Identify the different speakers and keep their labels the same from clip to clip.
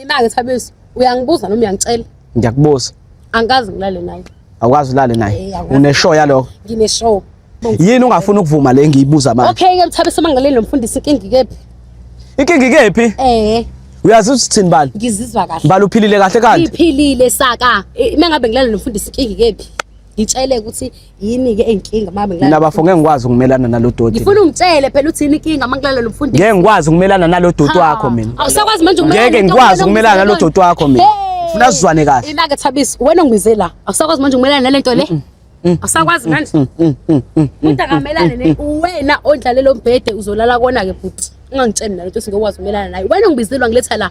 Speaker 1: Yena-ke Thabeso uyangibuza noma uyangitshela? Ngiyakubuza.
Speaker 2: Angikaze ngilale
Speaker 1: naye. Awukwazi ulale naye.
Speaker 2: Eh, awukwazi. Uneshow yalokho. Ngineshow.
Speaker 1: Yini ungafuni
Speaker 2: ukuvuma le ngiyibuza manje? Okay ke Thabeso mangaleli lo
Speaker 1: mfundisi inkinga ikephi? Inkinga
Speaker 2: ikephi? Eh. Uyazi ukuthi thini bani? Ngizizwa kahle. Bani uphilile
Speaker 1: kahle kanti?
Speaker 2: Ngiphilile saka.
Speaker 1: Eh, Uma ngabe ngilale nomfundisi inkinga ikephi? Ngitshele ukuthi yini ke inkinga mama ngilala mina bafo ngeke ngikwazi ukumelana
Speaker 2: nalodoti ngifuna ungitshele phela uthini
Speaker 1: inkinga uma ngilala lomfundisi ngeke ngikwazi ukumelana
Speaker 2: nalodoti wakho mina awusakwazi manje ukumelana ngeke
Speaker 1: ngikwazi ukumelana
Speaker 2: nalodoti wakho mina ufuna sizwane kahle ilaka thabisi wena
Speaker 1: ungibize la awusakwazi manje ukumelana nalento le awusakwazi manje umuntu akamelane ne wena ondlalelo mbhede uzolala kona ke bhuti ungangitsheni nalento singekwazi ukumelana naye wena ungibizelwa ngiletha la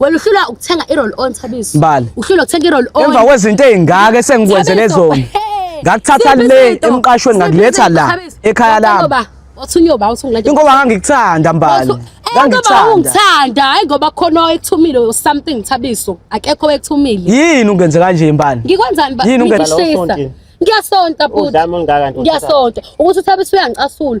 Speaker 1: wena uhlulwa ukuthenga i-roll on thabiso Mbali. uhlulwa ukuthenga i-roll on emva kwezinto ey'ngaka
Speaker 2: esengikwenzele Thabiso, zona hey, ngakuthatha siphi le izinto? emqashweni Siphi ngakuletha izinto, la Thabiso? ekhaya Wathi lami uyoba- wathi uyoba wathi ungilande-
Speaker 1: ingoba ngangikuthanda
Speaker 2: mbali Wathi- Eh, ngoba ngangikuthanda
Speaker 1: ungithanda hayi ngoba khona owekuthumile or something thabiso akekho owekuthumile yini ungenze kanje
Speaker 2: mbali ngikwenzani ba- Yini ungenza?
Speaker 1: ngikushisa? Udlame olungaka
Speaker 2: nje, ngiyasonta
Speaker 1: bhuti Udlame olungaka nje, ngiyasonta
Speaker 3: ukuthi uthabiso
Speaker 1: uyangicasula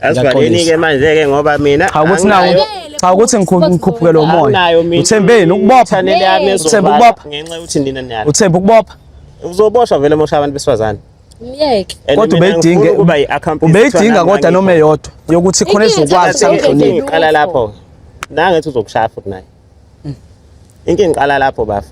Speaker 3: Asivaleni-ke manje-ke ngoba mina cha ukuthi nawo
Speaker 2: cha ukuthi ngikhuphuke lo moya uthembeni ukubopha uthemba ukubopha ngenxa yokuthi nina niyala
Speaker 3: uthemba ukubopha
Speaker 2: uzoboshwa vele
Speaker 3: mosha abantu besifazane myeke
Speaker 1: kodwa ubeyidinge
Speaker 2: ubeyidinga kodwa noma eyodwa yokuthi khona ezokwazi samhlonipha iqala lapho
Speaker 3: nangethi uzokushaya futhi naye inkinga iqala lapho bafa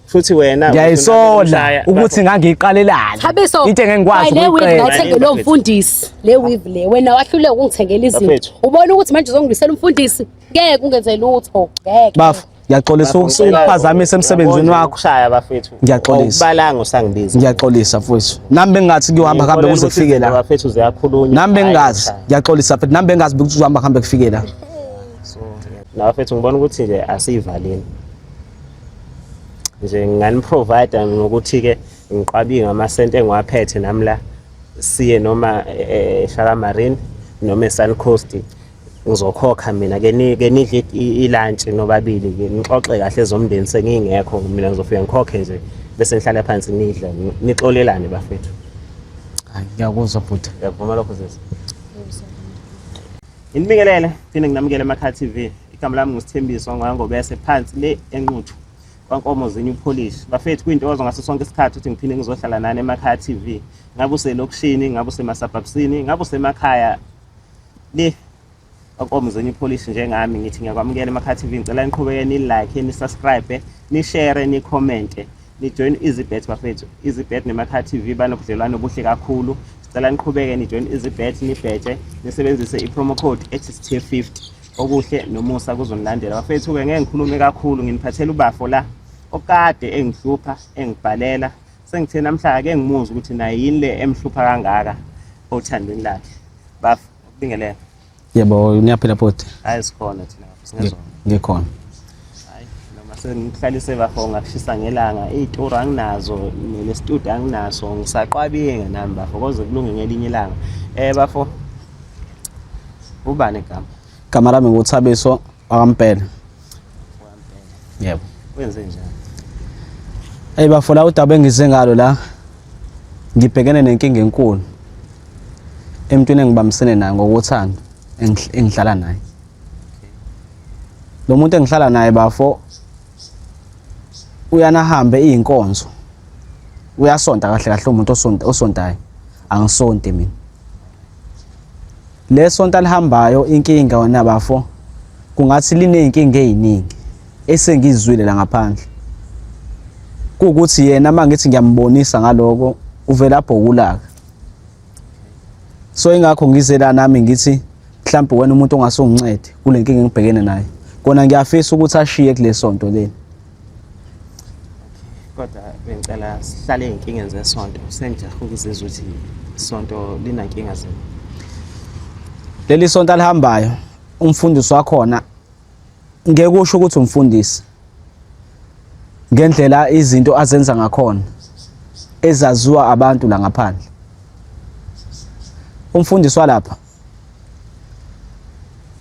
Speaker 3: futhi wena ngiyayisola
Speaker 2: ukuthi ngangiyiqalelani Thabiso into engengikwazi
Speaker 1: le weave
Speaker 2: ngayithenge lo
Speaker 1: mfundisi le weave le wena wahluleka ukungithengela izinto ubona ukuthi manje uzongibisela umfundisi ngeke ungenze lutho ngeke bafu ngiyaxolisa
Speaker 2: ukuphazamisa emsebenzini wakho shaya bafethu
Speaker 3: ngiyaxolisa ubalanga
Speaker 2: usangibiza
Speaker 3: ngiyaxolisa mfowethu
Speaker 2: nami bengathi kuyohamba kambe kuze kufike la bafethu uziyakhulunywa nami
Speaker 3: bengazi
Speaker 2: ngiyaxolisa mfethu nami bengazi ukuthi uzohamba kambe kufike la so
Speaker 3: nabafethu ngibona ukuthi nje asiyivaleni nje nginganiprovide ngokuthi-ke ngiqwabiye ngamasenti engiwaphethe nami la siye noma ehlala eh, marine noma esun coast ngizokhokha mina ke nidle ilantshi nobabili ke nixoxe kahle zomndeni sengingekho mina ngizofika ngikhokhe nje bese ngihlala phansi nidle nixolelane bafethu
Speaker 2: ngiyakuzwa bhuti ngiyakuvuma lokho zezi
Speaker 3: Nginibingelele phinde nginamukele eMakhaya TV. Igama lami nguSithembiso ngoyangobese phansi le enquthu kwankomo zenyu polish. Bafethu kuyintokozo ngaso sonke isikhathi ukuthi ngiphinde ngizohlala nani eMakhaya TV. Ngabe uselokishini, ngabe usemasabhabsini, ngabe usemakhaya le kwankomo zenyu polish njengami ngithi ngiyakwamukela eMakhaya TV. Ngicela niqhubeke ni-like, ni-subscribe, ni-share, ni-commente. Nijoin EasyBet bafethu. EasyBet neMakhaya TV banobudlelwano obuhle kakhulu. Sicela niqhubeke nijoin EasyBet nibhetshe nisebenzise i-promo code ethi sithe 50. Okuhle nomusa kuzonilandela. Bafethu ke ngeke ngikhulume kakhulu nginiphathela ubafo la okade engihlupha engibhalela sengithe namhla ake ngimuzwe ukuthi naye yini le emhlupha kangaka othandweni lakhe. Bafo, kubingelela. Yebo,
Speaker 2: niyaphila bhuti? Hayi sikhona thina
Speaker 3: singezona. Ngikhona.
Speaker 2: Hayi
Speaker 3: noma sengihlalise bafo ngakushisa ngelanga, izitori anginazo nestudio anginaso ngisaqwabile nami bafo koze kulunge ngelinye ilanga. Eh bafo ubani igama? Igama lami nguThabiso
Speaker 2: Wakampela. Yebo. Wenze
Speaker 3: njani?
Speaker 2: Hey bafo la udaba engize ngalo la. Ngibhekene nenkinga enkulu. Emntwini engibambisene naye ngokuthanda engihlala naye. Lo muntu engihlala naye bafo uyana hambe izinkonzo. Uyasonta kahle kahle umuntu osonta osontayo. Angisonti mina. Le sonto alihambayo inkinga wena bafo kungathi liney'nkinga ey'ningi esengizizwile la ngaphandle kuwukuthi yena uma ngithi ngiyambonisa ngaloko uvele abhokulaka so ingakho ngize la nami ngithi mhlawumbe wena umuntu ongase ungincede kule nkinga engibhekene nayo kona ngiyafisa ukuthi ashiye kule sonto leli
Speaker 3: kodwa bengicela sihlale ey'nkingeni zesonto sengijaha ukuzizwa ukuthi isonto linankinga zini
Speaker 2: leli sonto alihambayo umfundisi wakhona ngeke usho ukuthi umfundisi ngendlela izinto azenza ngakhona ezaziwa abantu la ngaphandle umfundisi walapha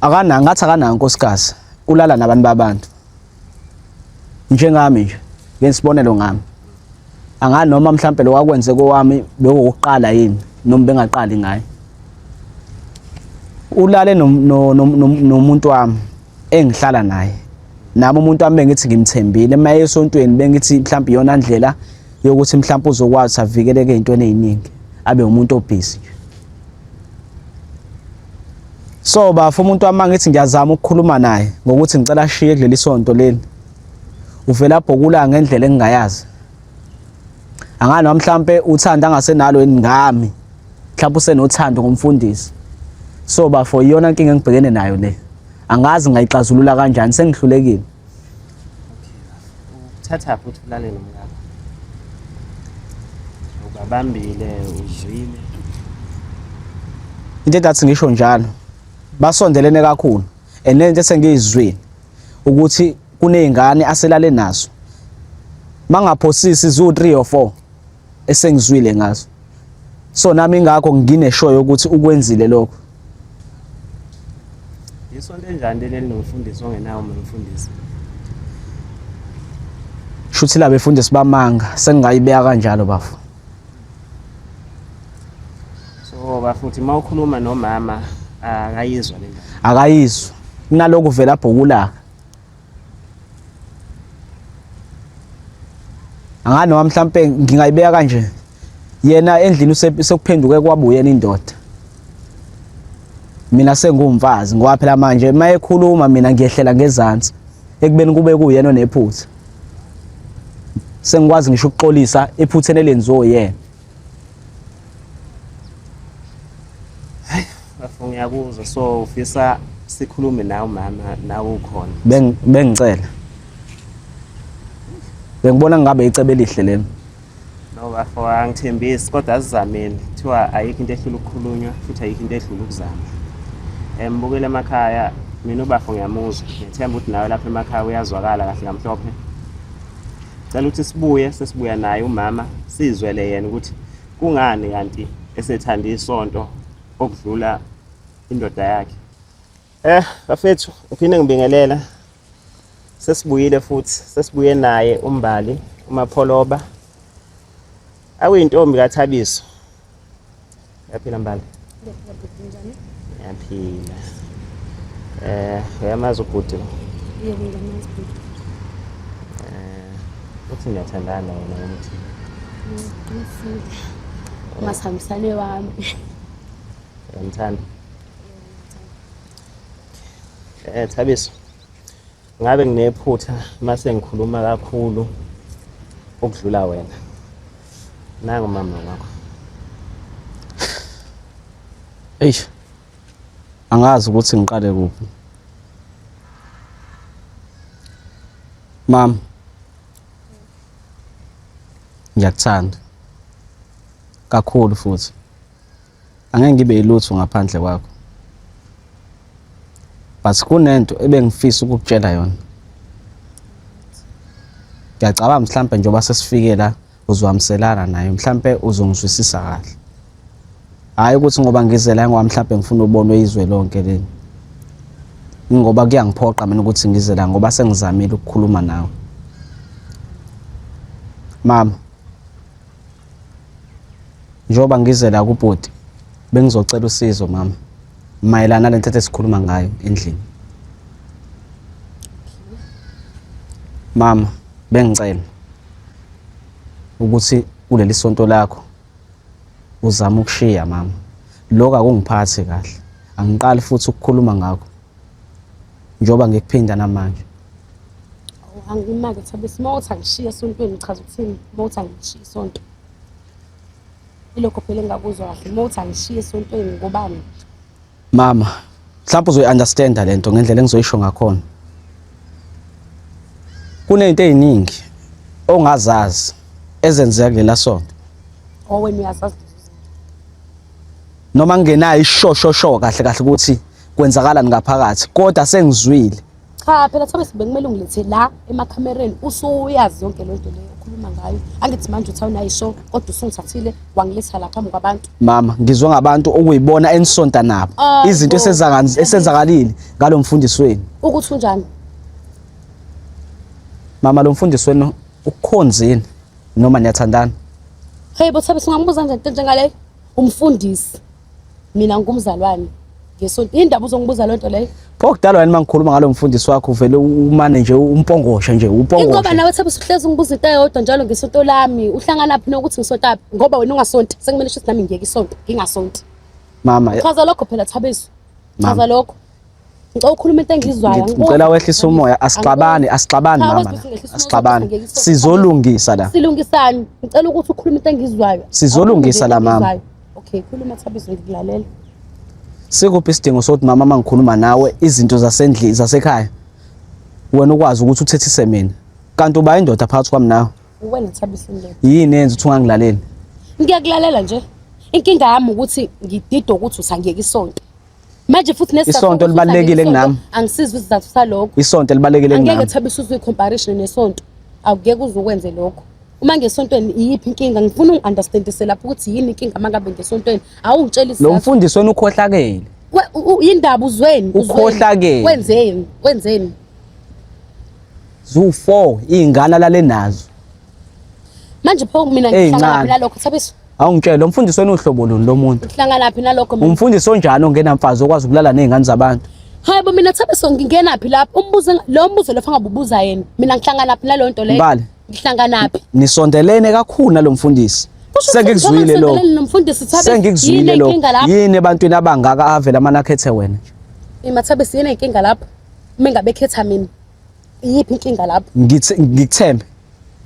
Speaker 2: akana ngathi akanayo nkosikazi ulala nabantu babantu njengami nje ngesibonelo ngami angazi noma mhlampe lo wakwenze kowami bewokuqala yini noma bengaqali ngaye ulale nomuntu wami engihlala naye nami umuntu wami bengithi ngimthembile uma esontweni bengithi mhlawumbe iyona ndlela yokuthi mhlawumbe uzokwazi avikeleke ey'ntweni ey'ningi abe umuntu obhizi nje So bafo umuntu wami ngithi ngiyazama ukukhuluma naye ngokuthi ngicela ashiye kuleli sonto leli. Uvela bhokula ngendlela engingayazi. Angani noma mhlambe uthanda angasenalo yini ngami. Mhlawumbe usenothando ngomfundisi. So bafo iyona inkinga engibhekene nayo le. Angazi ngayixazulula kanjani sengihlulekile.
Speaker 3: ukuthatha futhi ulale nomkakho ubabambile uzwile
Speaker 2: into engathi ngisho njalo basondelene kakhulu and lento esengiyizwile ukuthi kunezingane aselale nazo mangaphosisi ziwu 3 or 4 esengizwile ngazo so nami ingakho ngineshoyo yokuthi ukwenzile lokho
Speaker 3: isonto enjani leli nomfundisi ongenawo umfundisi
Speaker 2: shuthi la befundisi bamanga sengingayibeka kanjalo bafo
Speaker 3: so bafuthi uma ukhuluma nomama akayizwa le akayizwa
Speaker 2: kunaloku vela bhukulaka angani noma mhlampe ngingayibeka kanje yena endlini usekuphenduke kwabuyena indoda mina sengumfazi ngoba phela manje uma ekhuluma mina ngiyehlela ngezansi ekubeni kube kuyena onephutha sengikwazi ngisho ukuxolisa ephutheni elenziwe yena
Speaker 3: bafo ngiyakuzwa so ufisa sikhulume nawe umama nawe ukhona Beng- bengicela
Speaker 2: bengibona ngabe icebo elihle lelo no bafo
Speaker 3: angithembisi kodwa asizameni kuthiwa ayikho into ehlula ukukhulunywa futhi ayikho into edlula ukuzama um bukele emakhaya mina ubafo ngiyamuzwa ngethemba ukuthi nawe lapha emakhaya uyazwakala kahle kamhlophe Cela ukuthi sibuye sesibuya naye umama sizwele yena ukuthi kungani kanti esethanda isonto okudlula indoda yakhe. Eh bafethu ngiphinde ngibingelela sesibuyile futhi sesibuye naye umbali umapholoba awuyintombi kathabiso Yaphila mbali. Yaphila bhuti njani? Yaphila. Eh, uyamazi ubhuti lo? Yebo ngiyamazi
Speaker 1: bhuti.
Speaker 3: Eh, uthi ngiyathandana yena ukuthi. Ngifunda.
Speaker 1: Mm, Masihambisane wami.
Speaker 3: Uyamthanda? Eh, Thabiso. Ngabe nginephutha mase ngikhuluma kakhulu ukudlula wena. Nangu mama wakho.
Speaker 2: Eish. Angazi ukuthi ngiqale kuphi. Mama. Ngiyakuthanda. Kakhulu futhi. angeke ngibe yilutho ngaphandle kwakho but kunento ebengifisa ukukutshela yona ngiyacabanga mhlampe njengoba sesifike la uzwamselana naye mhlampe uzongizwisisa kahle hhayi ukuthi ngoba ngize la ngoba mhlampe ngifuna ubonwe izwe lonke leli ingoba kuyangiphoqa mina ukuthi ngize la ngoba sengizamile ukukhuluma nawe mama Njengoba ngize la kubhuti bengizocela usizo mama mayelana nale ntethe esikhuluma ngayo endlini. Mama bengicela ukuthi kuleli sonto lakho uzama ukushiya mama. Lokho akungiphathi kahle. Angiqali futhi ukukhuluma ngakho. njengoba ngikuphinda namanje
Speaker 1: angimake thabe sima uthi angishiye esontweni ngichaza ukuthini uma uthi angishiye isonto ilokho phela engingakuzwa kahle uma uthi angishiye
Speaker 2: esontweni
Speaker 1: ngobani mama mhlawumbe
Speaker 2: uzoyi-understanda le nto ngendlela engizoyisho ngakhona kuney'nto ey'ningi ongazazi ezenzeka kulela sonto owen
Speaker 1: uyazazi
Speaker 2: noma ngingenayo ishoshosho kahle kahle ukuthi kwenzakalani ngaphakathi kodwa sengizwile cha phela thobe
Speaker 1: sibekumele ungilethe la emakhamereni usuyazi yonke le nto leyo okhuluma ngayo angithi manje uthi awunayisho kodwa usungithathile wangiletha la phambi kwabantu mama ngizwe ngabantu
Speaker 2: okuyibona enisonta nabo Ah, izinto bo. esenzaka- esenzakalile ngalo mfundisi wenu ukuthi unjani mama lo mfundisi wenu ukukhonzini noma niyathandana hey bo
Speaker 1: thobe singambuza nje into njengaleyo umfundisi mina ngumzalwane ngesonto yini ndaba uzongibuza loo nto leyo okudalwa yini uma ngikhuluma
Speaker 2: ngalo mfundisi wakho uvele umane nje umpongoshe nje upongoshe ingoba nawe thebe usuhlezi
Speaker 1: ungibuza into eyodwa njalo ngesonto lami uhlangana phi nokuthi ngisonta phi ngoba wena ungasonti sekumele ukuthi nami ngiyeke isonto ngingasonti mama chaza
Speaker 2: lokho phela
Speaker 1: thabezu chaza lokho Ngicela ukhuluma into engizwayo. Ngicela wehlisa umoya,
Speaker 2: asixabani, asixabani mama. Asixabani. Sizolungisa la. Silungisani? Ngicela
Speaker 1: ukuthi ukhulume into engizwayo. Sizolungisa la
Speaker 2: mama. Okay, khuluma
Speaker 1: Thabiso ngikulalela.
Speaker 2: Sikuphi isidingo sokuthi mama mangikhuluma nawe izinto zasendlini zasekhaya? Wena ukwazi ukuthi uthethise mina. Kanti uba indoda phakathi kwami nawe. Uwena Thabiso
Speaker 1: nje. Yini yenza ukuthi ungangilaleli?
Speaker 2: Ngiyakulalela
Speaker 1: nje. Inkinga yami ukuthi ngididwa ukuthi usangiyeka isonto. manje futhi nesizathu isonto libalekile
Speaker 2: kunami angisizi isizathu
Speaker 1: salokho isonto libalekile kunami angeke
Speaker 2: thabe usuze comparison
Speaker 1: nesonto awukeke uzokwenze lokho uma ngesontweni iyiphi inkinga ngifuna ungiunderstandise lapho ukuthi yini inkinga mangabe ngesontweni awungitshela isizathu lo mfundisi wena ukhohlakele
Speaker 2: indaba
Speaker 1: uzweni ukhohlakele
Speaker 2: wenzeni wenzeni zu 4 ingane lale nazo
Speaker 1: manje pho mina ngihlala lapho lokho thabe Awungitshela lo mfundisi
Speaker 2: wena uhlobo luni lo muntu? Uhlangana phi nalokho mina?
Speaker 1: Umfundisi onjani ongena
Speaker 2: mfazi okwazi ukulala nezingane zabantu? Hayi bo mina thabe
Speaker 1: so ngingena phi lapho umbuzo enga- lo mbuzo lofa ngabubuza yena. Mina ngihlangana phi naleyo nto leyo? Mbali. Ngihlangana
Speaker 2: phi?
Speaker 1: Nisondelene kakhulu
Speaker 2: nalomfundisi. Kusho ukuthi Sengikuzwile njengoba lo. ngisondelene nomfundisi Thabe Sengikuzwile yini lo. inkinga lapho? Yini ebantwini abangaka avela amanakhethe wena? Imathabe siyena
Speaker 1: inkinga lapho. Uma engabe khetha mina. Iyiphi inkinga lapho? Ngithe- Ngikuthembe.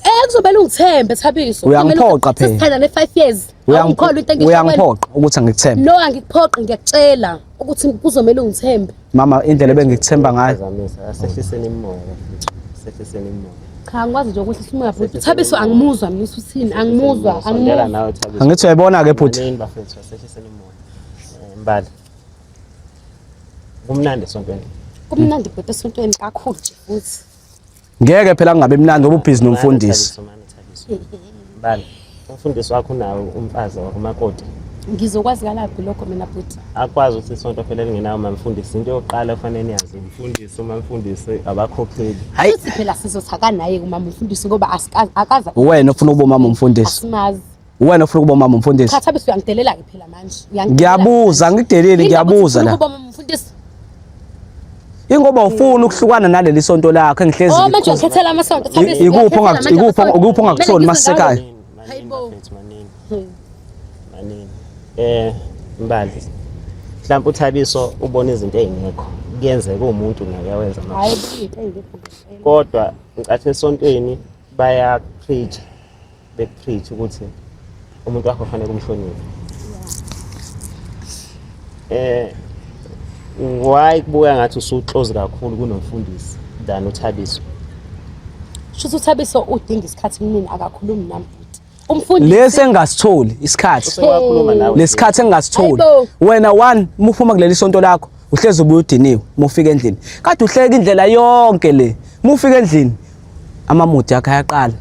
Speaker 2: Eh kuzomele
Speaker 1: ungithembe Thabiso. Uyangiphoqa phela. Sithandane
Speaker 2: 5 years. Uyangi-
Speaker 1: Awungikholwa into engisho wena. Uyangiphoqa ukuthi angikuthembe.
Speaker 2: No angikuphoqi
Speaker 1: ngiyakutshela ukuthi kuzomele ungithembe. Mama indlela
Speaker 2: ebengikuthemba ngayo. Zamisa, asehliseni imimoya
Speaker 3: bafethu. Asehliseni imimoya. Cha ngikwazi nje ukuthi
Speaker 1: simoya bhuti. Thabiso angimuzwa mina usuthini angimuzwa Sondela angimuzwa. nawe Thabiso.
Speaker 3: Angithi uyayibona ke bhuti.
Speaker 2: Yini bafethu asehliseni
Speaker 3: imimoya. Eh, Mbali. Kumnandi esontweni. Kumnandi bhuti
Speaker 1: esontweni kakhulu nje futhi. Ngeke
Speaker 2: phela kungabe mnandi ngoba ubhizi nomfundisi.
Speaker 3: Bala. Umfundisi wakho unawo umfazi wakumakoti. Ngizokwazi
Speaker 1: kalaphi lokho mina bhuti? Akwazi ukuthi isonto
Speaker 3: phela lingenawo mamfundisi. Into yokuqala ofanele niyazi umfundisi uma mfundisi abakhokheli. Hayi phela
Speaker 2: sizothaka
Speaker 1: naye kumama umfundisi ngoba asikazi akaza. Uwena ufuna ukuba umama
Speaker 2: umfundisi. Asimazi. Uwena
Speaker 1: ufuna ukuba umama
Speaker 2: umfundisi. Cha thabisa uyangidelela ke
Speaker 1: phela manje. Ngiyabuza ngideleli
Speaker 2: ngiyabuza la. Ukuba umama
Speaker 1: umfundisi.
Speaker 2: Ingoba ufuna ukuhlukana naleli sonto lakho engihlezi. Oh manje ukhethela amasonto
Speaker 1: thabisa. Ikuphi ongakuthi ikuphi ikuphi
Speaker 2: ongakuthoni masekhaya.
Speaker 1: Hayibo.
Speaker 3: Manini. Eh mbali. Mhlawumbe uthabiso ubona izinto ezingekho. Kuyenzeka umuntu naye awenza manje. Hayibo.
Speaker 1: Kodwa
Speaker 3: ngicathi esontweni baya preach bekutreat ukuthi umuntu wakho kufanele kumhloniphe eh why kubuya ngathi usuclose kakhulu kunomfundisi than uthabiso
Speaker 1: shuthi uthabiso udinga isikhathi kunini akakhulumi nami futhi umfundisi lesi engasitholi
Speaker 2: isikhathi usewakhuluma nawe
Speaker 3: lesikhathi engasitholi
Speaker 2: Hayibo. wena one
Speaker 1: muphuma
Speaker 2: kuleli sonto lakho uhlezi ubuye udiniwe mufika endlini kade uhleka indlela yonke le mufika endlini amamuthi akhe ayaqala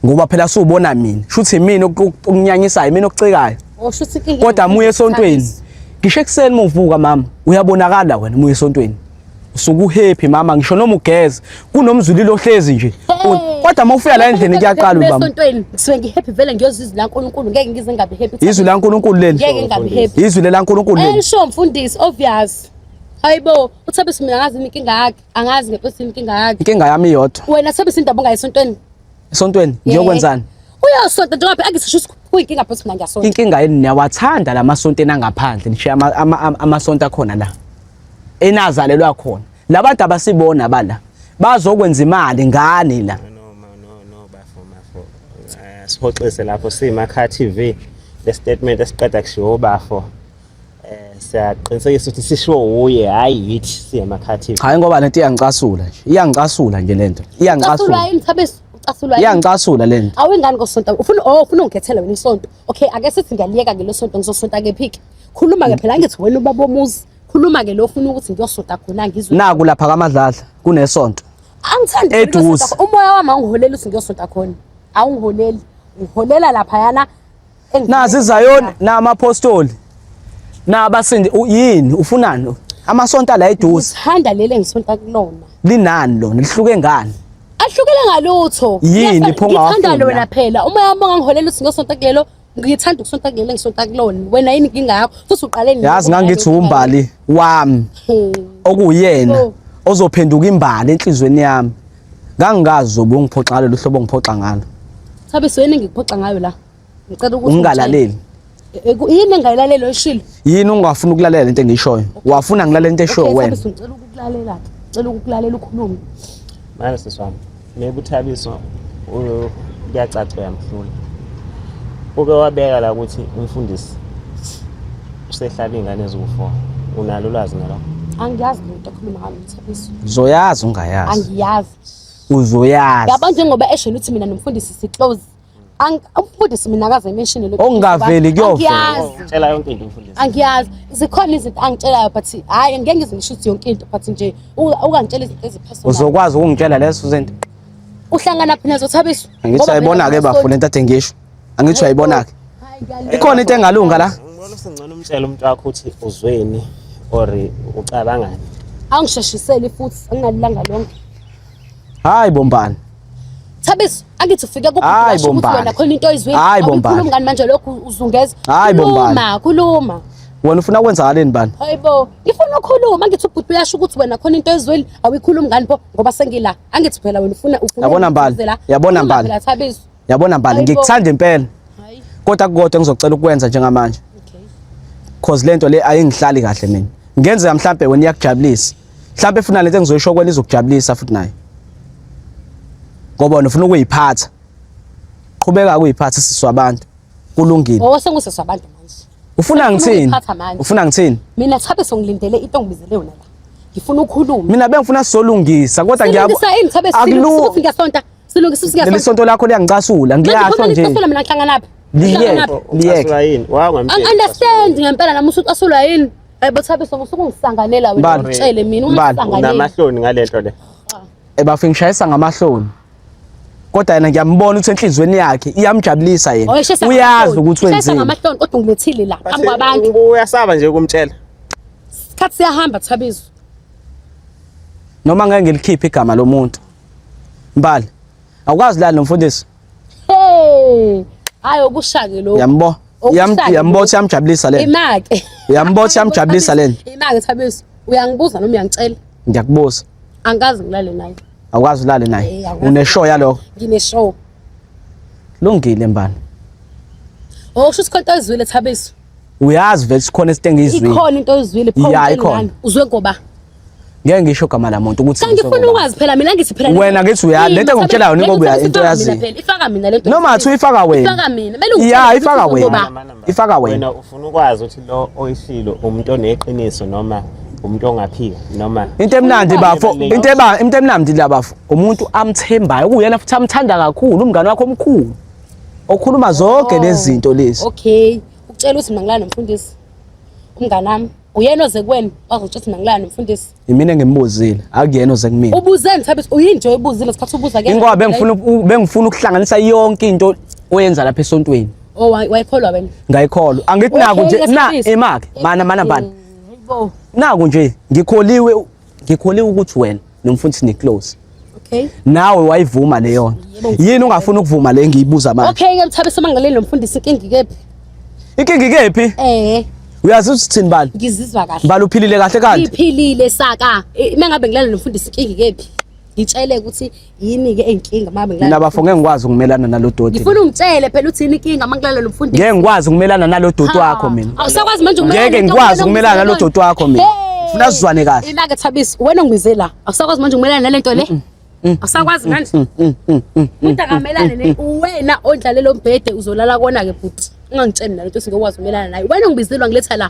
Speaker 2: ngoba phela siwubona mina shuthi mina okunyanyisayo mina okucikayo oh, kodwa
Speaker 1: muye esontweni
Speaker 2: ngisho ekuseni muvuka mama uyabonakala wena muye esontweni usuku happy mama ngisho noma ugeze kunomzulilo ohlezi nje kodwa uma ufika la endlini kuyaqala ubaba esontweni ngisuke ngi happy
Speaker 1: vele ngiyozizwa la uNkulunkulu ngeke ngize ngabe happy izwi la uNkulunkulu leli ngeke
Speaker 2: ngabe happy izwi
Speaker 1: la uNkulunkulu leli
Speaker 2: ayisho mfundisi
Speaker 1: obvious hayibo uthabe simina ngazi inkinga yakhe Angazi ngempela inkinga yakhe. Inkinga yami iyodwa. Wena
Speaker 2: sobe sindaba ungayi
Speaker 1: esontweni. Esontweni
Speaker 2: ngiyokwenzani? Uyosonta njengoba
Speaker 1: phela ngisho ukuthi kuyinkinga phela mina ngiyasonta. Inkinga yini niyawathanda
Speaker 2: lamasonto enangaphandle nishiya amasonto akhona la. Enazalelwa khona. Labantu abasibona bala. Bazokwenza imali ngani la.
Speaker 3: Sihoxise lapho simakha TV le statement esiqeda kushiwo bafo. Eh, siyaqinisekisa ukuthi sishiwo wuye hhayi yithi singamakhathini hayi ngoba lento iyangicasula
Speaker 2: nje iyangicasula nje lento iyangicasula
Speaker 1: iyangicasula le nto awengani
Speaker 2: kosonto ufuna
Speaker 1: oh ufuna ungikhethele wena isonto okay ake sithi ngiyaliyeka ngelo sonto ngizosonta kephike khuluma ke phela ngithi wena ubaba omuzi khuluma ke lo ufuna ukuthi ngiyosonta khona ngizwe naku lapha kamadladla
Speaker 2: kunesonto angithandi
Speaker 1: eduze umoya
Speaker 2: wami awungiholeli
Speaker 1: ukuthi ngiyosonta khona awungiholeli ngiholela lapha yana nazi
Speaker 2: izayoni namaphostoli nabasindi yini ufunani amasonto la eduze handa lele ngisonta
Speaker 1: kulona linani lona
Speaker 2: lihluke ngani ahlukele
Speaker 1: ngalutho yini iphonga wakho
Speaker 2: ngithanda lona phela
Speaker 1: uma
Speaker 2: yami
Speaker 1: ngangiholela uthi ngisonta kulelo ngithanda ukusonta kulelo ngisonta kulona wena yini inkinga yakho futhi uqale nini yazi ngangithi umbali
Speaker 2: wami hmm. okuyena oh. ozophenduka imbali enhlizweni yami ngangingazi ubungiphoxa ngalo luhlobo ngiphoxa ngalo Sabe sweni
Speaker 1: ngikuphoxa ngayo la. Ngicela ukuthi ungalaleli.
Speaker 2: E, e, yini
Speaker 1: engayilaleli oyishilo? Yini ungafuna
Speaker 2: ukulalela into engishoyo? Wafuna ngilalela into eshoyo wena. Okay, ngicela ukukulalela.
Speaker 1: Ngicela ukukulalela ukhulume. Manje sisi
Speaker 3: wami, mekuthabiswa kuyacaca uyamhlula. Uke wabeka la ukuthi umfundisi usehlaba ingane eziwu-4. Unalo ulwazi ngalokho? Angiyazi lento
Speaker 1: okhuluma ngayo Thabiso. Uzoyazi ungayazi.
Speaker 2: Angiyazi.
Speaker 1: Uzoyazi.
Speaker 2: Yabo njengoba esho
Speaker 1: ukuthi mina nomfundisi si-close umfundisi mina akaze mention lokho ongaveli kuyovela
Speaker 2: ngitshela yonke into
Speaker 3: umfundisi angiyazi zikhona
Speaker 1: izinto angitshelayo but hayi ngeke ngizingisho ukuthi yonke into but nje ungangitshela izinto eziphezulu uzokwazi ukungitshela lezo
Speaker 2: zinto uhlangana
Speaker 1: phina zothabiswa angithi ayibona ke
Speaker 2: bafuna into athe ngisho angithi ayibona ke ikhona into engalunga la ngcono umtshela
Speaker 3: umuntu wakho ukuthi uzweni or ucabangani angisheshiseli
Speaker 1: futhi anginalilanga lonke hayi
Speaker 2: bombani Thabiso
Speaker 1: angithi ufike kubhuti ukuthi wena khona into
Speaker 2: oyizwile
Speaker 1: awukhulumi ngani manje
Speaker 2: lokhu
Speaker 1: uzungeza kuluma
Speaker 2: kuluma
Speaker 1: wena ufuna ukwenza
Speaker 2: ngaleni bani hayibo ngifuna
Speaker 1: ukukhuluma angithi ubhuti uyasho ukuthi wena khona into oyizwile awuyikhulumi ngani pho ngoba sengila angithi phela wena ufuna ufuna yabona mbali
Speaker 2: yabona mbali
Speaker 1: yabona mbali ngikuthanda
Speaker 2: impela kodwa
Speaker 1: kukodwa engizocela
Speaker 2: ukwenza njengamanje
Speaker 1: cause lento
Speaker 2: le ayingihlali kahle mina ngenzeka mhlambe wena iyakujabulisa mhlawumbe funa lento engizoyisho kwena izokujabulisa futhi naye ngoba nifuna ukuyiphatha qhubeka ukuyiphatha sisi wabantu kulungile ngoba sengusisi wabantu
Speaker 1: manje ufuna ngithini
Speaker 2: ufuna ngithini
Speaker 1: mina
Speaker 2: thabe songilindele
Speaker 1: into ngibizele yona la ngifuna ukukhuluma mina bengifuna sizolungisa
Speaker 2: kodwa ngiyabo akulungi ngesonto
Speaker 1: silungisa usingesonto leli sonto lakho
Speaker 2: liyangicasula ngiyasho nje ngicasula mina ngihlangana phi
Speaker 1: liyeke
Speaker 2: liyeke
Speaker 3: understand ngempela
Speaker 1: nami usuthi asulwa yini Hayibo Thabiso usukungisanganela wena Bani? ngitshele mina Bani?
Speaker 2: ungisanganela.
Speaker 1: Unamahloni
Speaker 2: ngalento
Speaker 3: le. ebafo
Speaker 2: ngishayisa ngamahloni kodwa yena ngiyambona ukuthi enhliziyweni yakhe iyamjabulisa yena Oye shesa uyazi ukuthi Shesa wenzeni ngamahloni kodwa
Speaker 1: ungilethile
Speaker 2: la
Speaker 1: phambi kwabantu. Ubu- Uyasaba nje ukumtshela.
Speaker 3: Isikhathi
Speaker 1: siyahamba Thabiso. noma
Speaker 2: ngeke ngilikhiphe igama lomuntu mbali awukwazi lani nomfundisi Hey!
Speaker 1: Hayi okushake lokho. uyambo
Speaker 2: Yambotha yamjabulisa lena. Imake. Yambotha
Speaker 1: yamjabulisa
Speaker 2: lena. Imake Thabiso,
Speaker 1: uyangibuza noma uyangicela? Ngiyakubuza.
Speaker 2: Angikaze ngilale
Speaker 1: naye. Awukazi ulale naye.
Speaker 2: Une show yaloko.
Speaker 1: Ngine
Speaker 2: show. Lungile mbani.
Speaker 1: Oh, kusho ukuthi konke ezwile Thabiso. Uyazi vele
Speaker 2: sikhona isitenge izwile. Ikhona into oyizwile
Speaker 1: pho. Uzwe
Speaker 2: ngoba.
Speaker 1: ngeke ngisho
Speaker 2: igama lamuntu ukuthi kanti ngifuna ukwazi phela mina
Speaker 1: ngithi phela wena ngithi uya lento
Speaker 2: engikutshela yona ingoba into yazi ifaka mina lento noma
Speaker 1: athi uyifaka wena
Speaker 2: ifaka mina belu
Speaker 1: ya ifaka wena
Speaker 2: ifaka wena wena ufuna ukwazi ukuthi
Speaker 3: lo oyishilo umuntu oneqiniso noma umuntu ongaphika noma into emnandi bafo
Speaker 2: into eba into emnandi la bafo umuntu amthembayo kuyena futhi amthanda kakhulu umngane wakho omkhulu okhuluma zonke oh, lezi zinto lezi okay ucela
Speaker 1: ukuthi mina ngilana nomfundisi umngane wami uyena oze kuwena wazotsho ukuthi mangilani mfundisi yimina engimbuzile
Speaker 2: akuyena oze kumina ubuzeni thabisa uyinto
Speaker 1: oyibuzile sikhathi ubuza ke ingoba bengifuna
Speaker 2: bengifuna ukuhlanganisa yonke into oyenza lapha esontweni oh wayikholwa
Speaker 1: wena ngayikholwa angithi
Speaker 2: naku nje na imake mana mana bani
Speaker 1: naku nje
Speaker 2: ngikholiwe Ngikholwa ukuthi wena nomfundisi ni close. Okay. Nawe
Speaker 1: wayivuma
Speaker 2: leyo. Yini ungafuna ukuvuma le ngiyibuza manje? Okay, ke mthabe semangaleni
Speaker 1: nomfundisi inkingi kephi? Inkingi
Speaker 2: kephi? Eh. Uyazi usithini bani? Ngizizwa kahle. Bani uphilile
Speaker 1: kahle kanti?
Speaker 2: Ngiphilile saka.
Speaker 1: Mengabe ngilala nomfundisi inkingi kephi? Ngitshele ukuthi yini ke inkinga mama ngilala mina bafo ngeke ngikwazi ukumelana
Speaker 2: nalodoti ngifuna ungitshele phela uthi
Speaker 1: yini inkinga uma ngilala nomfundisi ngeke ngikwazi ukumelana
Speaker 2: nalodoti wakho mina awusakwazi manje ukumelana ngeke
Speaker 1: ngikwazi ukumelana
Speaker 2: nalodoti wakho mina ngifuna sizwane kahle ilaka thabisi wena
Speaker 1: ngibize la awusakwazi manje ukumelana nalento le Mm. awusakwazi mm, manje mm, kodwa kamelane ne wena ondlalelo mbhede uzolala kona ke bhuti ungangitsheni nalento singokwazi umelana naye wena ngibizelwa ngiletha la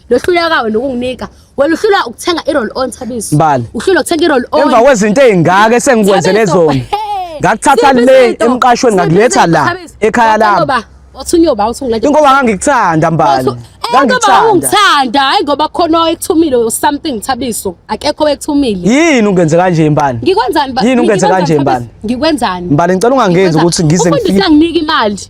Speaker 1: lohlulekayo nokunginika wena uhlula ukuthenga i-roll on thabiso Mbali. uhlula ukuthenga i-roll on emva kwezinto ezingaka
Speaker 2: esengikwenzele Thabiso, zona hey, ngakuthatha siphi le izinto? emqashweni Siphi ngakuletha izinto, la Thabiso? ekhaya Wathi lami ngoba- wathi unyoba wathi
Speaker 1: ungilethe- ingoba ngangikuthanda
Speaker 2: mbali Wathi- Eh, ngoba ngangikuthanda
Speaker 1: ungithanda hayi ngoba khona owekuthumile or something thabiso akekho owekuthumile yini ungenze kanje
Speaker 2: mbali ngikwenzani ba- Yini ungenze ngikwenzani,
Speaker 1: kanje, Thabiso? Mbali?
Speaker 2: ngikwenzani mbali
Speaker 1: ngicela ungangenzi Ngikwenzani?
Speaker 2: ukuthi ngize Umfundisi ngifike anginike imali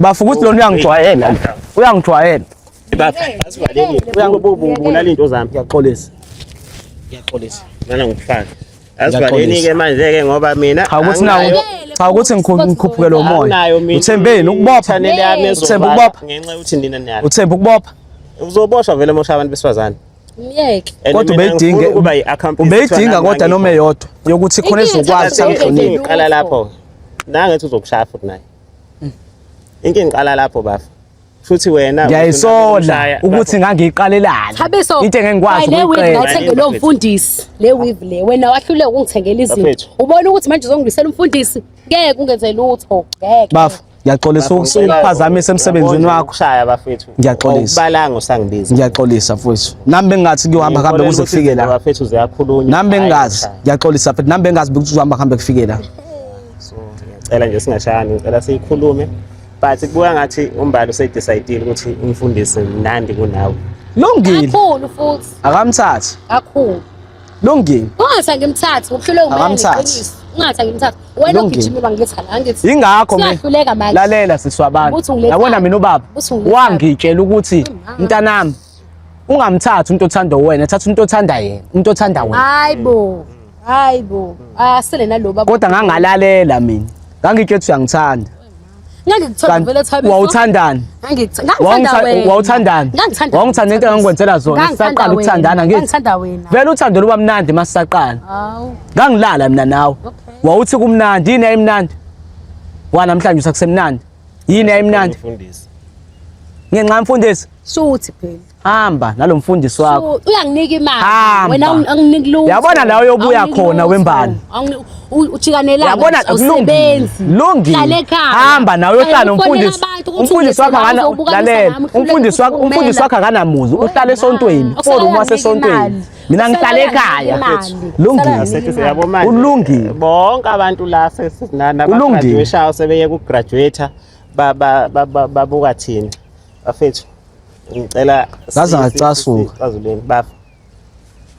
Speaker 1: Bafu
Speaker 2: ukuthi lona uyangijwayela. Uyangijwayela. Bafu asivaleni.
Speaker 3: Uyangibulala into zami. Ngiyaxolisa.
Speaker 2: Ngiyaxolisa.
Speaker 3: Ngana ngikufaka. Asivaleni ke manje ke ngoba mina Cha ukuthi nawo cha
Speaker 2: ukuthi ngikhuphuke lo moya. Uthembeni ukubopha. Uthemba
Speaker 3: ukubopha. Ngenxa
Speaker 2: ukuthi nina niyalo.
Speaker 3: Uthemba ukubopha.
Speaker 2: Uzoboshwa vele
Speaker 3: mosha abantu besifazane. Myeke. And
Speaker 1: Kodwa mina ubeyidinge- ngifuna
Speaker 2: ukuba i-accomplice ubeyidinga kuthiwa kodwa nami noma ngayikho. eyodwa yokuthi khona Inkinga ezokwazi Inkinga Inkinga samhlonipha Lutho. iqala lapho
Speaker 3: nangethi uzokushaya futhi naye inkinga iqala lapho bafo futhi wena ngiyayisola
Speaker 2: ukuthi ngangiyiqalelani Thabiso. into engengikwazi
Speaker 1: Le weave
Speaker 2: ukuyiqela ngayithenge lo
Speaker 1: mfundisi. Le weave le. Wena wahluleka ukungithengela izinto. Bafethu. Ubona ukuthi manje uzongibisela umfundisi. Ngeke ungenze lutho. Ngeke. bafo Ngiyaxolisa
Speaker 2: ukuphazamisa emsebenzini wakho. Ukushaya bafethu.
Speaker 3: Ngiyaxolisa. Ukubalanga
Speaker 2: usangibiza.
Speaker 3: Ngiyaxolisa mfowethu.
Speaker 2: Nami bengathi kuyohamba kambe kuze kufike la. Bafethu ziyakhulunywa. Nami
Speaker 3: bengazi.
Speaker 2: Ngiyaxolisa mfethu. Nami bengazi ukuthi uzohamba kambe kufike la. So
Speaker 3: ngiyacela nje singashayani. Ngicela siyikhulume. But kubuya ngathi umbali usedecidile ukuthi umfundisi mnandi kunawe. Lungile. Kakhulu
Speaker 2: futhi.
Speaker 1: Akamthathi.
Speaker 2: Kakhulu.
Speaker 1: Lungile.
Speaker 2: Ungathi angimthathi
Speaker 1: ngokuhluleka umoya ngeqiniso. Ungathi angimthathi. Wena ugijima uba ngithi la ngithi. Ingakho mina.
Speaker 2: Lalela
Speaker 1: siswa abantu.
Speaker 2: Yabona mina
Speaker 1: ubaba.
Speaker 2: Wangitshela
Speaker 1: ukuthi
Speaker 2: mntanami ungamthathi umuntu othanda wena, thatha umuntu othanda yena, umuntu othanda wena. Hayibo. Hayibo.
Speaker 1: Asele naloba. Kodwa ngangalalela
Speaker 2: mina. Ngangitshela ukuthi uyangithanda.
Speaker 1: wawuthandani
Speaker 2: wawuthandani wawungithanda into engangikwenzela zona sisaqala ukuthandana ngithi vele uthando
Speaker 1: luba mnandi
Speaker 2: uma sisaqala ngangilala
Speaker 1: mina nawe
Speaker 2: wawuthi kumnandi yini yayimnandi wanamhlanje usakusemnandi yini yayimnandi
Speaker 3: ngenxa
Speaker 2: mfundisi shuthi phela
Speaker 1: hamba nalo
Speaker 2: mfundisi wakho uyanginika imali
Speaker 1: wena anginiki
Speaker 2: lutho
Speaker 1: yabona la uyobuya
Speaker 2: khona wembali ujikanelana
Speaker 1: yabona
Speaker 2: usebenzi lungile
Speaker 1: hamba nawe uyohlala
Speaker 2: umfundisi umfundisi wakho akana lalela umfundisi wakho umfundisi wakho akanamuzi uhlala esontweni forum wasesontweni mina ngihlala ekhaya lungile
Speaker 3: ulungile bonke
Speaker 2: abantu
Speaker 3: la sesinana ba graduation sebeye ku graduate babuka thina bafethu ngicela ngaze
Speaker 2: ngacasuka cazuleni bafa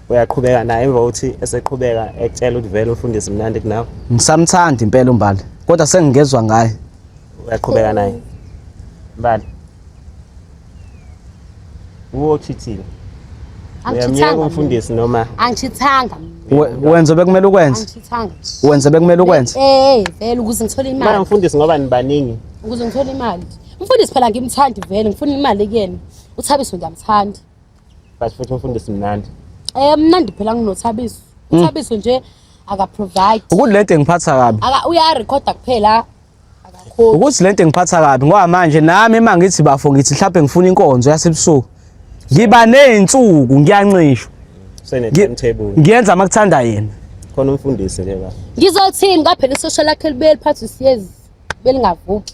Speaker 3: uyaqhubeka naye emva kokuthi eseqhubeka ekutshela ukuthi vele ufundisi mnandi kunawe ngisamthanda impela
Speaker 2: umbali kodwa sengingezwa ngaye uyaqhubeka
Speaker 3: naye mbali uwochithile uyamyeka umfundisi noma angithithanga
Speaker 1: wenze
Speaker 2: bekumele ukwenze angithithanga wenze
Speaker 1: bekumele
Speaker 2: ukwenze eh vele ukuze
Speaker 1: ngithole imali manje umfundisi ngoba
Speaker 3: nibaningi ukuze ngithole imali
Speaker 1: Mfundisi phela ngimthandi vele ngifuna imali kuyena. UThabiso ngiyamthanda. But futhi
Speaker 3: umfundisi mnandi. Eh mnandi phela
Speaker 1: nginoThabiso. Hmm. UThabiso nje aka provide. Ukuthi lento engiphatha
Speaker 2: kabi. Aka uya record
Speaker 1: kuphela akakho. Ukuthi lento engiphatha
Speaker 2: kabi ngoba manje nami uma ngithi bafo ngithi mhlawumbe ngifuna inkonzo yasebusuku. Ngiba nezinsuku ngiyanxishwa. Sene
Speaker 3: timetable. Ngiyenza makuthanda
Speaker 2: yena. Khona umfundisi
Speaker 3: ke ba. Ngizothini kaphela
Speaker 1: isosha lakhe libeli phansi siyezi belingavuki.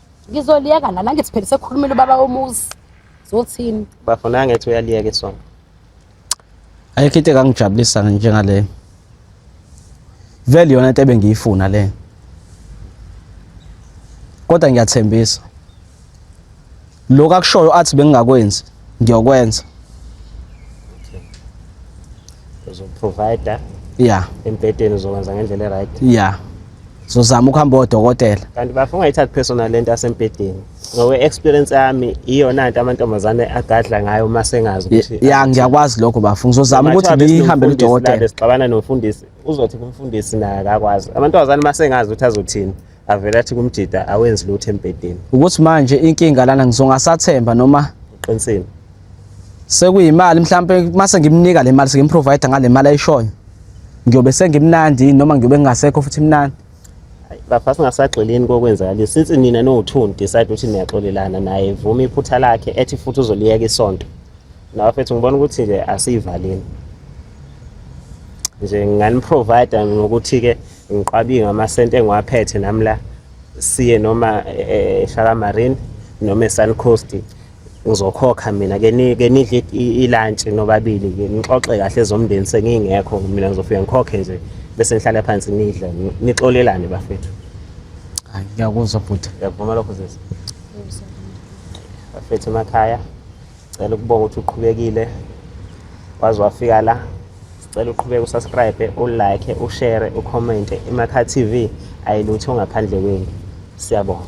Speaker 3: Ngizoliyeka
Speaker 1: nami angithi phela sekhulumile ubaba womuzi. Zothini? Bafo naye ngithi
Speaker 3: uyaliyeka isonto.
Speaker 2: Ayikho into engangijabulisa njengaleyo. Vele yona into ebengiyifuna le. Kodwa ngiyathembisa. Lokho akushoyo athi bengingakwenzi ngiyokwenza
Speaker 3: uzoprovider yeah
Speaker 2: embhedeni uzokwenza
Speaker 3: ngendlela eright yeah
Speaker 2: zozama ukuhamba odokotela kanti bafa ungayithathi
Speaker 3: personal lento asembhedeni ngowe experience yami iyona nto amantombazane agadla ngayo uma sengazi ukuthi ya ngiyakwazi lokho
Speaker 2: bafa ngizozama ukuthi ngihambe udokotela sixabana nomfundisi
Speaker 3: uzothi kumfundisi naye akakwazi amantombazane uma sengazi ukuthi azothini avele athi kumjida awenzi lutho embhedeni ukuthi manje
Speaker 2: inkinga lana ngizongasathemba noma uqinisile sekuyimali mhlampe mase ngimnika le mali sengimprovider ngale mali ayishoyo ngiyobe sengimnandi noma ngiyobe ngingasekho futhi mnandi bafana
Speaker 3: singasagxilini kokwenzakala since nina no-two decide ukuthi niyaxolelana naye vuma iphutha lakhe ethi futhi uzoliyeka isonto nawe fethu ngibona ukuthi nje asiyivaleni nje nginganiprovida ngokuthi-ke Ngiqabinga amasenti engiwaphethe nami la siye noma eh, eShaka Marine noma eSun Coast ngizokhokha mina ke ni ke nidle ilunch nobabili ke nixoxe kahle zomndeni sengingekho mina ngizofika ngikhokhe nje bese ngihlale phansi nidle nixolelane bafethu hayi
Speaker 2: ngiyakuzwa bhuti ngiyavuma lokho sisi
Speaker 3: bafethu emakhaya Cela ukubonga ukuthi uqhubekile waze wafika la. Sicela uqhubeke usubscribe, ulike, ushare, ucommente. IMakha TV ayilutho ngaphandle kwenu. Siyabonga.